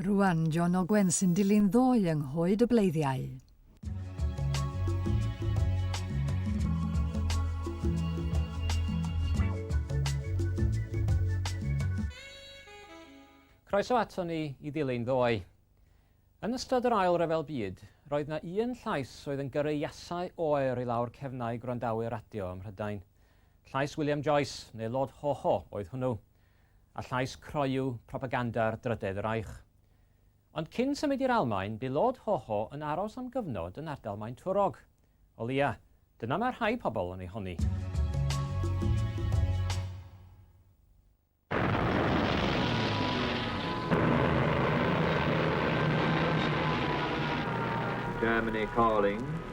Rwan, John Ogwen sy'n dilyn ddoe yng nghoed y bleiddiau. Croeso ato ni i ddilyn ddoe. Yn ystod yr ail rhyfel byd, roedd na un llais oedd yn gyrru iasau oer i lawr cefnau gwrandawyr radio ym Mhrydain. Llais William Joyce, neu Lord Hoho, oedd hwnnw. a llais croyw propaganda'r Drydedd Reich. Ond cyn symud i'r Almaen, bu Lord Hoho yn aros am gyfnod yn ardal Maen Twrog. O leia, dyna mae rhai pobl yn ei honni. Germany Calling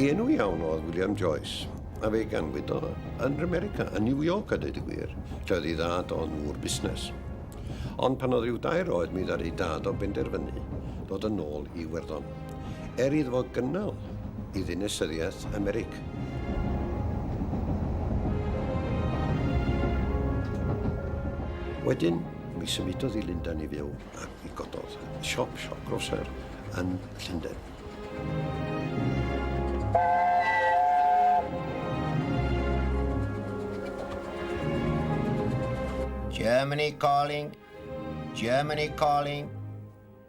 Ei enw iawn oedd William Joyce, a fe ganwyd o yn America, yn New York a dweud y gwir, lle oedd ei ddad o'n ŵr busnes. Ond pan oedd rhyw dair oed mi ddar ei dad o benderfynu dod yn ôl i Iwerddon, er iddo fo gynnal i ddinasyddiaeth Americ. Wedyn, mi symudodd i Lundain i fyw ac mi gododd siop, siop groser yn Llundain. Germany calling, Germany calling.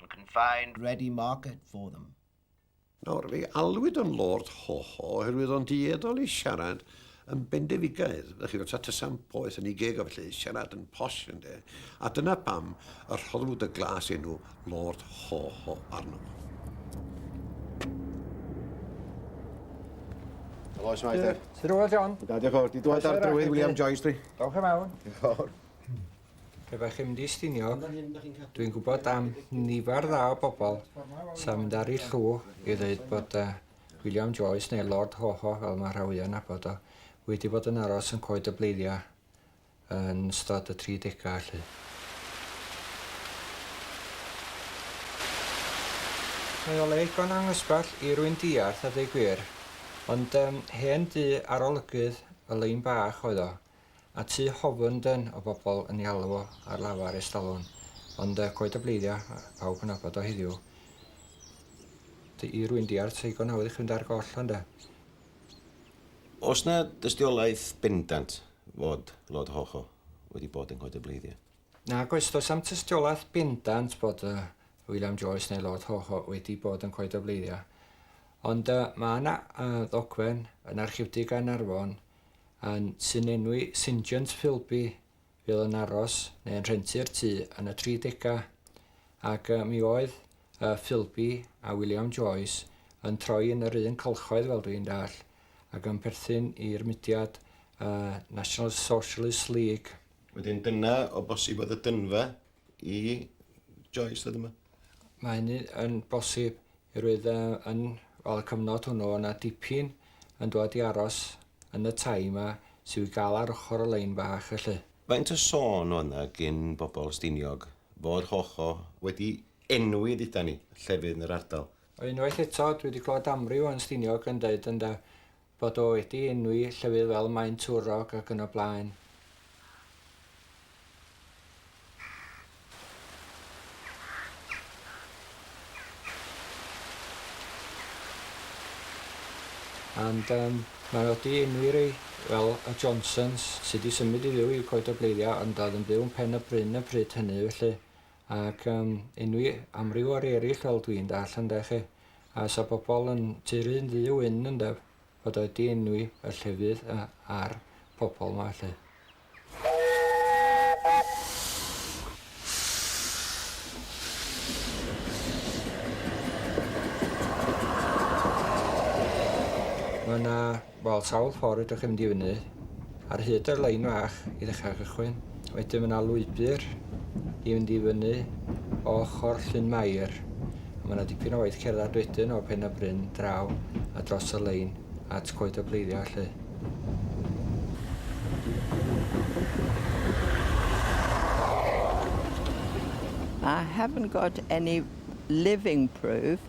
and can find ready market for them. Nawr, fe alwyd o'n Lord Hoho oherwydd o'n dueddol i siarad yn bendefigaeth, ydych chi'n gwybod, tasam poeth yn ei geg o felly, siarad yn posh yn de, a dyna pam y rhoddwyd y glas enw Lord Hoho arno fo. Helo, oes mae te? Ti'n rhywbeth, John? Da, diolch o'r, di dweud ar drywydd William Joyce, dwi. Dawch am awn. Diolch o'r. Pe bai chi'n mynd i Stiniog, dwi'n gwybod am nifer dda o bobl sy'n mynd ar ei llw i ddweud bod uh, William Joyce neu Lord Hoho, fel mae rhai yn abod o, wedi bod yn aros yn coed y bleiddiau yn stod y 30au allu. Mae o le igon anghysbell i rwy'n diarth a dweud gwir, ond um, hen du arolygydd y lein bach oedd o, A tu hofn dân o bobl yn ei alw o ar lafar estalon, ond y coed a bleiddia pawb yn nabod o heddiw. Dy i rwy'n diarth seigon hawdd i'ch fynd ar goll ond y. Oes na dystiolaeth bendant fod Lord Hawho wedi bod yn coed a bleiddia? Nag oes, does am tystiolaeth bendant bod y William Joyce neu Lord Hawho wedi bod yn coed a bleiddia. Ond y mae yna y ddogfen yn Archifdy Gaernarfon Yn sy'n enwi Sinjant Philby fydd yn aros neu yn rhentu'r tŷ yn y tri degau, ac yy mi oedd yy Philby a William Joyce yn troi yn yr un cylchoedd fel dwi'n dallt, ac yn perthyn i'r mudiad yy National Socialist League. Wedyn dyna o bosib oedd y dynfa. i Joyce oedd yma. Mae hynny yn bosib oherwydd uh, yn wel, y cyfnod hwnnw yna dipyn yn dod i aros yn y tai yma sydd wedi gael ar ochr y lein bach felly. Faint o sôn oedd yna gyn bobl Stiniog fod Hocho wedi enwi dduda ni llefydd yn yr ardal? Unwaith eto, dwi wedi clywed amryw yn Stiniog yn dweud ynda, Bod o wedi enwi llefydd fel Maen Twrog ac yn y blaen. And um, mae o wedi enwi rei fel y Johnsons sydd wedi symud i fyw i Coed y Bleiddiau ond oedd yn byw yn Pen y Bryn y pryd hynny felly ac um, enwi amryw ar eraill fel dwi'n dall ynde chi, a sa pobl yn turu'n ddu wyn ynde, fod wedi enwi y llefydd ar pobl yma felly. Mae yna Wel sawl ffordd fedrwch chi fynd i fyny. Ar hyd y lein fach i ddechrau cychwyn. Wedyn mae yna lwybr i fynd i fyny o ochr Llyn Mair. A mae yna dipyn o waith cerdded wedyn o Pen y Bryn draw a dros y lein at Coed y Pleiddiau lle. I haven't got any living proof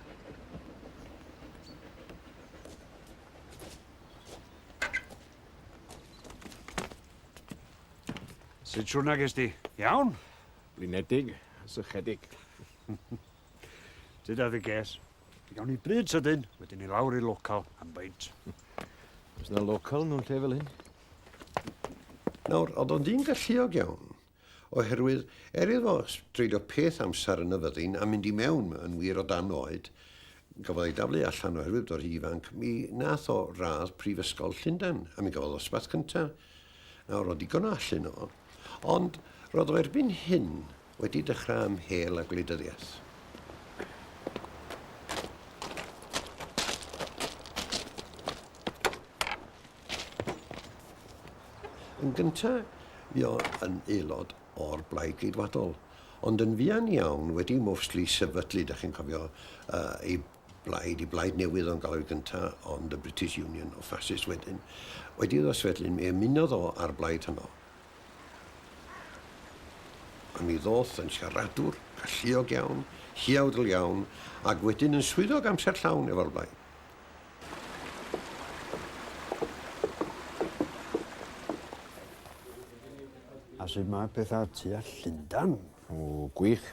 Sut siwrna ges di? Iawn? Blinedig, sychedig. Dyda ddi ges. Fe gawn ni bryd sydyn, wedyn ni lawr i local am baint. Os na local nhw'n lle fel hyn. Nawr, oedd o'n dyn galluog iawn. Oherwydd, er iddo dreulio peth amser yn y fyddin a mynd i mewn yn wir o dan oed, gafodd ei daflu allan oherwydd bod hi ifanc, mi nath o radd Prifysgol Llundain, a mi gafodd o ddosbarth cynta. Nawr, o ddigon o allu yno fo. Ond, roedd o erbyn hyn wedi dechrau ymhél â gwleidyddiaeth. Yn gyntaf, fi yn aelod o'r Blaid Geidwadol, ond yn fuan iawn wedi mostly sefydlu, da chi'n cofio, uh, ei blaid, ei blaid newydd o'n galw gyntaf, ond y British Union o Fascist wedyn. Wedi iddo sefydlu, mi ymunodd o ar blaid hynno. A mi ddoth yn siaradwr, galluog iawn, hiawdl iawn, ac wedyn yn swyddog amser llawn efo'r blaid. A sut mae pethau tu a Llundan? O, gwych.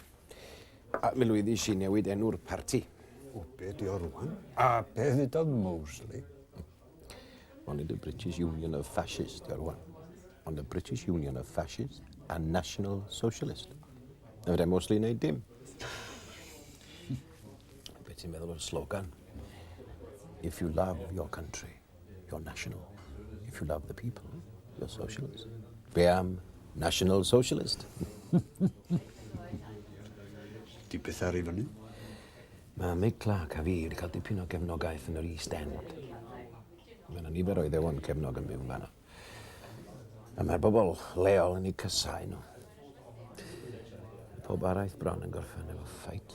A mi lwyddi si newid enw'r parti. O, be di o rwan? A be ddudodd Mosley? Only the British Union of Fascists, di o rwan. Ond the British Union of Fascists a National Socialist. Na fydde Mosley wneud dim. Be ti'n meddwl o'r slogan? If you love your country, you're national. If you love the people, you're socialist. Be am National Socialist? Di beth ar i fyny? Mae Mick Clark a fi wedi cael dipyn o gefnogaeth yn yr East End. Mae yna nifer o iddewon cefnog yn byw yn fanna. A mae'r bobl leol yn ei cysau nhw. Pob araith bron yn gorffen efo ffait.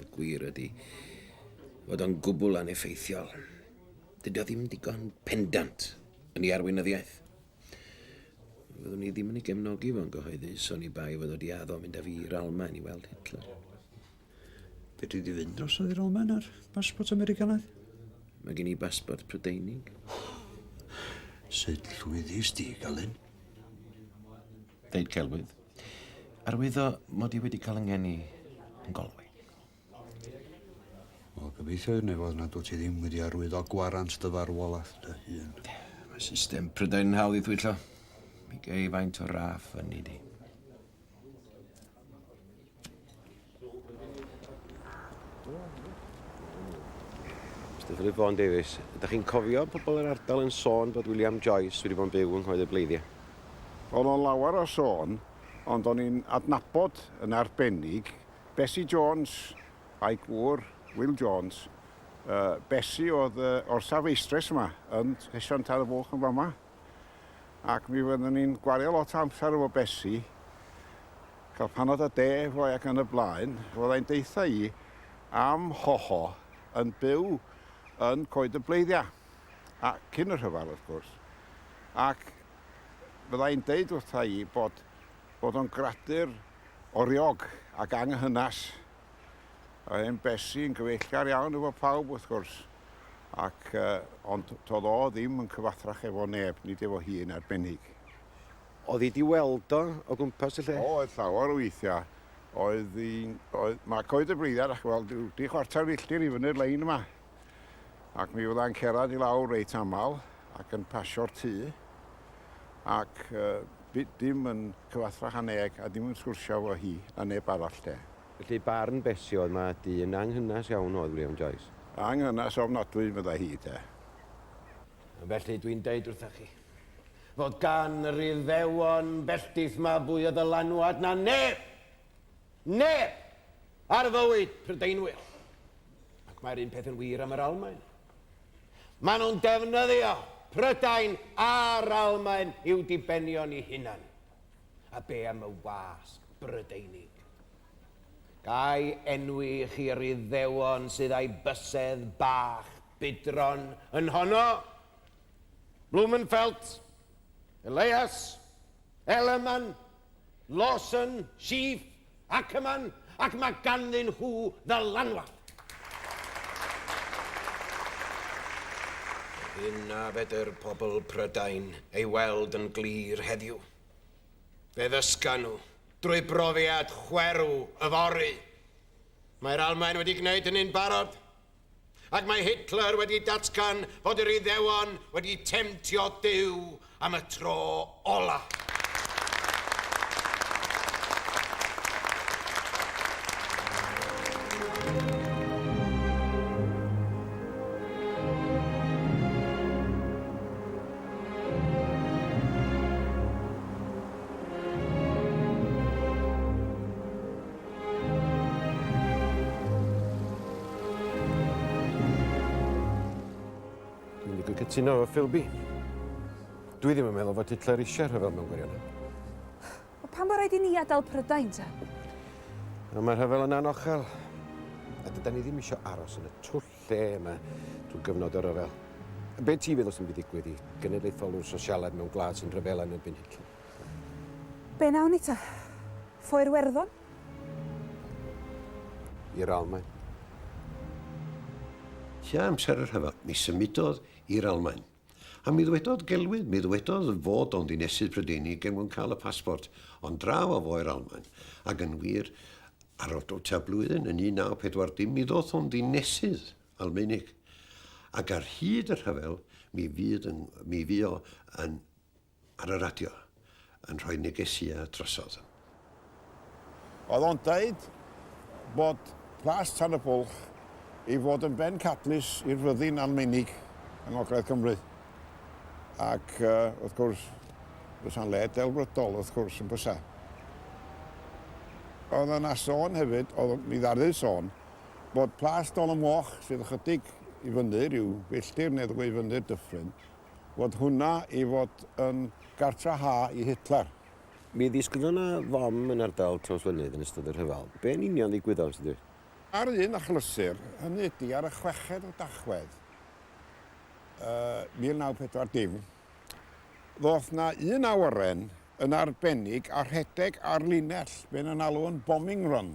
Y gwir ydy fod o'n gwbl aneffeithiol. Dydy o ddim digon pendant yn ei arweinyddiaeth. Fyddwn ni ddim yn ei gefnogi fo'n gyhoeddus o'n i bai fod wedi addo mynd â fi i'r Almaen i weld Hitler. Fedri di fynd dros i'r Almaen ar basbort Americanaidd? Mae gen i basbort Prydeinig. Sut llwyddus di, Galyn? ddeud celwydd, arwyddo mod i wedi cael yng ngeni yn Galway. Wel, gobeithio i'r nefoedd nad wyt ti ddim wedi arwyddo gwarant dy farwolaeth dy hun. Mae system Prydain yn hawdd i thwyllo. Mi gei faint o raff fyny di. Dyfylu Bon Davies. Ydych chi'n cofio pobl yr ardal yn sôn bod William Joyce wedi bod yn byw yng Nghoed y Bleiddiau? Oedd o'n lawer o sôn, ond o'n i'n adnabod yn arbennig Bessie Jones a'i gŵr, Will Jones. Uh, Bessie oedd uh, orsaf eistres yma, yn Sesion Tad y Bwlch yn fama. ac mi fyddwn ni'n gwario lot o amser efo Besi, cael panad a de efo ac yn y blaen, fyddai'n deitha i am hoho yn byw yn Coed y Bleiddiau, a cyn y rhyfel wrth gwrs, ac fyddai'n deud wrtha i bod, bod o'n gradur oriog ac anghynas Oedd e'n besi yn gyfeillgar iawn efo pawb wrth gwrs. Ac, uh, ond todd o ddim yn cyfathrach efo neb, nid efo hi yn arbennig. Oedd hi di weld o o gwmpas y lle? O, oedd llawer o weithia. Oedd hi'n... Oedd... Mae coed y bleiddiad, dach chi'n weld, ryw dri chwarter filltir i fyny'r lein yma. ac mi fydda'n cerad i lawr reit aml ac yn pasio'r tŷ ac uh, dim yn cyfathrach a neg a dim yn sgwrsio fo hi na neb arall de. Felly barn Bessie oedd mae dyn anghynas iawn oedd William Joyce. Anghynas ofnadwy fydda hi de. Felly dwi'n deud wrtha chi fod gan yr Iddewon belltith ma fwy o ddylanwad na neb Neb! Ar fywyd, Prydeinwyr. Ac mae'r un peth yn wir am yr Almaen. Maen nhw'n defnyddio Prydain a'r Almaen i'w dibenion i hunan. A be am y wasg Brydeinig? Gai enwi i chi yr iddewon sydd a'i bysedd bach budron yn honno? Blumenfeld, Elias, Ellerman, Lawson, Sheaf, Ackerman, ac mae ganddyn nhw ddylanwad. Yna fedr pobl Prydain ei weld yn glir heddiw. Fe ddysga nhw, drwy brofiad chwerw yfory. Mae'r Almaen wedi gwneud hynny'n barod. Ac mae Hitler wedi datgan fod yr Iddewon wedi temtio Duw am y tro ola. cytuno efo Philby. Dwi ddim yn meddwl fod Hitler eisiau rhyfel mewn gwirionedd. O pan bod rhaid i ni adael Prydain, ta? No, mae rhyfel yn anochel. A dyda ni ddim eisiau aros yn y twll lle yma drwy gyfnod o ryfel. Be ti feddwl sy'n mynd i ddigwydd i genedlaetholwr sosialaidd mewn gwlad sy'n rhyfel yn erbyn Hitler? Be wnawn ni ta? Ffo i'r Werddon? I'r Almaen. Tua amser y rhyfel, mi symudodd i'r Almaen. A mi ddwedodd gelwydd, mi ddwedodd fod o'n ddinesydd Prydeinig er mwyn cael y pasbort, ond draw a fo i'r Almaen. Ac yn wir, ar ol tua blwyddyn, yn 1940, mi ddoth o'n ddinesydd Almaenig. Ac ar hyd y rhyfel, mi fydd yn, mi fuo yn ar y radio yn rhoi negesia drosodd. Oedd o'n dweud bod Plas Tan y Bwlch i fod yn ben cadlys i'r fyddin Almeinig yng Ngogledd Cymru. Ac wrth gwrs, bysa'n le delfrydol wrth gwrs yn bysa. Oedd yna sôn hefyd, oedd mi ddardydd sôn, bod Plas Dol y Moch sydd ychydig i fyny rhyw filltir neu ddwy fyny'r dyffryn, fod hwnna i fod yn gartra ha i Hitler. Mi ddisgwyd yna fom yn ardal Trawsfynydd yn ystod y rhyfel. Be yn union ddigwyddodd, os ydyw? Ar un achlysur, hynny ydy ar y chweched o Dachwedd 1940, ddoth yna un awyren yn arbennig a rhedeg ar linell, be yn alw yn bombing run.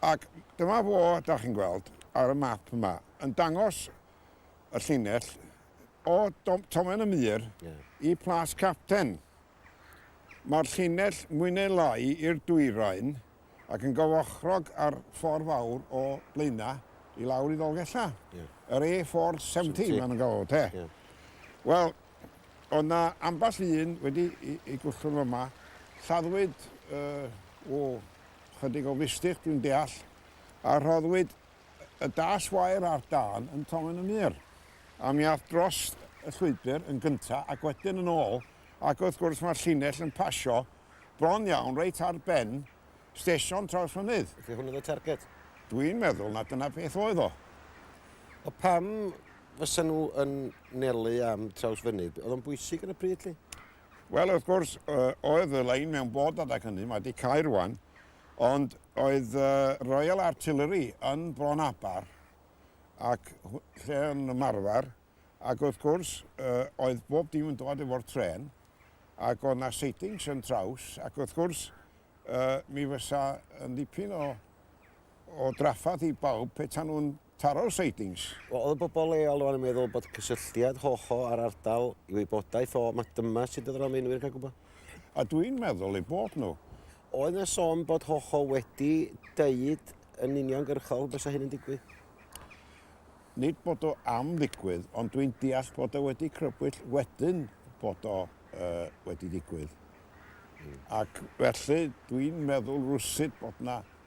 Ac dyma fo, da chi'n gweld, ar y map yma, yn dangos y llinell o Tomen y Mur yeah. i Plas Capten. Mae'r llinell mwy neu lai i'r dwyrain ac yn gyfochrog ar ffordd fawr o Blaena i lawr i Ddolgella. Yeah. Yr A470 mae'n gael te. Yeah. Wel, oedd na ambell un wedi i, i gwllwng yma, lladdwyd uh, o chydig o fistych dwi'n deall, a rhoddwyd Y daeth wair ar dân yn Tomen y Mur, a mi ath dros y llwybr yn gynta ac wedyn yn ôl, ac wrth gwrs mae'r llinell yn pasio bron iawn reit ar ben stesion Trawsfynydd. Felly hwn oedd y targed? Dwi'n meddwl na dyna beth oedd o. O pam fysa nhw yn nelu am Trawsfynydd? Oedd o'n bwysig ar y pryd 'lly? Wel wrth gwrs oedd y lein mewn bod adeg hynny, mae 'di cau rwan, Ond oedd y Royal Artillery yn Bron Aber ac lle yn ymarfer ac wrth gwrs oedd bob dim yn dod efo'r trên ac oedd na sightings yn traws ac wrth gwrs mi fysa yn dipyn o o draffath i bawb petai nhw'n Taro'r sidings. Wel, oedd y bobl leol rwan yn meddwl bod cysylltiad hoho â'r ardal i wybodaeth o, ma dyma sut oedd yr Almaenwyr yn cael gwybod. A dw i'n meddwl eu bod nhw. Oedd na son bod hoho wedi deud yn uniongyrchol fysa hyn yn digwydd? Nid bod o am ddigwydd, ond dw i'n deall bod o wedi crybwyll wedyn bod o uh, wedi digwydd. Mm. Ac felly dw i'n meddwl rwsyd bod na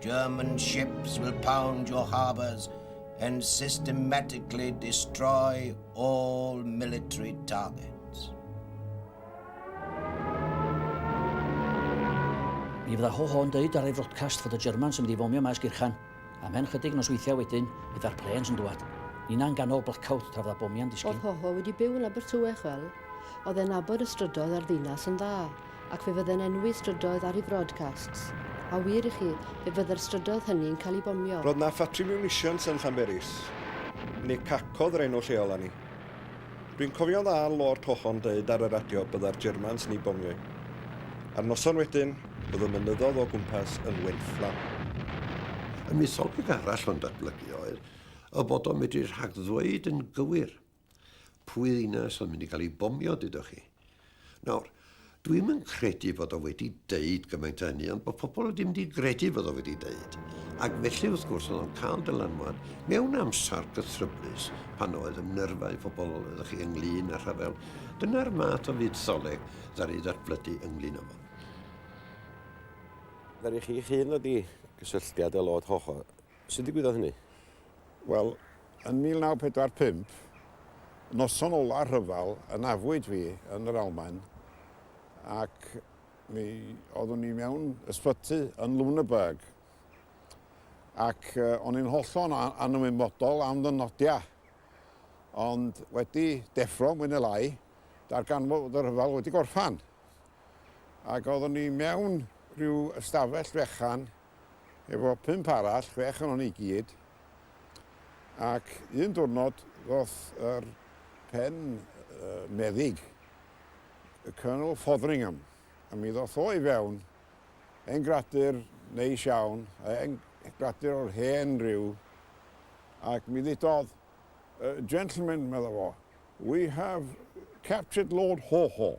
German ships will pound your harbours and systematically destroy all military targets. Mi fydda ho ho'n dweud ar ei frodcast fod y Germans yn mynd i fomio maes gyrchan. A mhen chydig nos weithiau wedyn, fydda'r planes yn dwad. Nina yn ganol blackout tra fydda bomiau'n disgyn. Oedd Hoho wedi byw yn Abertywech fel, oedd e'n nabod y strydoedd a'r ddinas yn dda. Ac fe fydde'n enwi strydoedd ar ei frodcasts. A wir i chi, fe fydde'r strydoedd hynny'n cael eu bomio. Roedd 'na ffatri miwnisians yn Llanberis, neu cacodd yr enw lleol arni. Dwi'n cofio'n dda Lord Hohon deud ar y radio bydda'r Germans yn ei bomio 'i. A'r noson wedyn, oedd y mynyddodd o gwmpas yn wenfflam. Y mytholeg arall o'n datblygu oedd y bod o'n medru rhagddweud yn gywir Pwy ddinas oedd mynd i gael ei bomio, dydwch chi? Nawr, dwi'm yn credu fod o wedi deud gymaint o hynny, ond bod pobl wedi mynd i gredu fod o wedi deud. Ac felly, wrth gwrs, oedd o'n cael dylanwad mewn amser cythryblus pan oedd yn nyrfau pobl, ydych chi, ynglyn â rhyfel. Dyna'r math o fuddoleg ddaru ddatblydu ynglyn â fo. Ddaru chi'ch hun ddod i gysylltiad â Lord Hoho? Sut ddigwyddodd hynny? Wel, yn 1945, noson ola'r rhyfel, ynafwyd fi yn yr Almaen ac mi oeddwn i mewn ysbyty yn Lüneburg ac o'n i'n hollol anymwybodol am fy nodiau. Ond wedi deffro mwy neu lai, darganfod bod y rhyfel wedi gorffan ac oeddwn i mewn rhyw ystafell fechan efo pump arall, chwech onon ni i gyd, ac un diwrnod ddoth yr pen meddyg, y Colonel Fotheringham, a mi ddoth o i fewn, hen gradur neis iawn, hen gradur o'r hen ryw, ac mi ddudodd, Gentlemen, medda fo, we have captured Lord Haw Haw.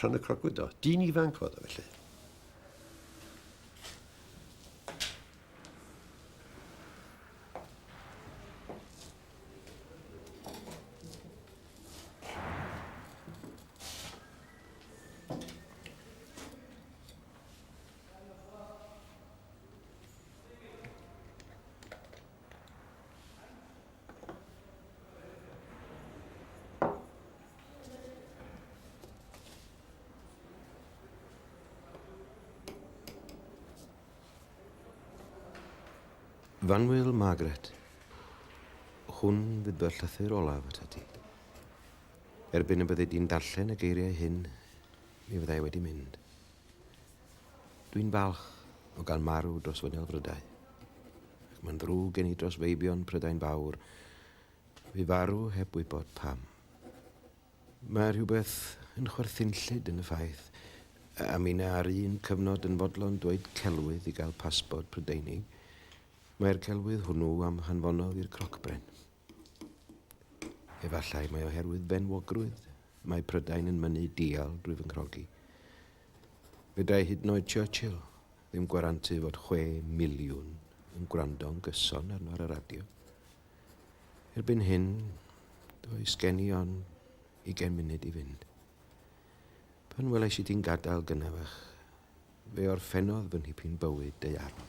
Rhan y crocwyd do. Dyn ifanc oedd o felly. Fanwyl Margaret, hwn fydd fy llythyr olaf at ti. Erbyn y byddi di'n darllen y geiriau hyn, mi fyddai wedi mynd. Dwi'n falch o gael marw dros fy nilfrydau, ac mae'n ddrwg gen i dros feibion Prydain Fawr, fu farw heb wybod pam. Mae rhywbeth yn chwerthin llid yn y ffaith a minna ar un cyfnod yn fodlon dweud celwydd i gael pasbort Prydeinig, mae'r celwydd hwnnw am hanfonodd i'r crocbren. Efallai mae oherwydd benwogrwydd, mae Prydain yn mynnu dial drwy fy nghrogi. Fedrai hyd yn oed Churchill ddim gwarantu fod chwe miliwn yn gwrando'n gyson arno ar y radio. Erbyn hyn, does gen i ond ugain munud i fynd. Pan welais i ti'n gadael gynafach, fe orffennodd fy nhipyn bywyd deiarol.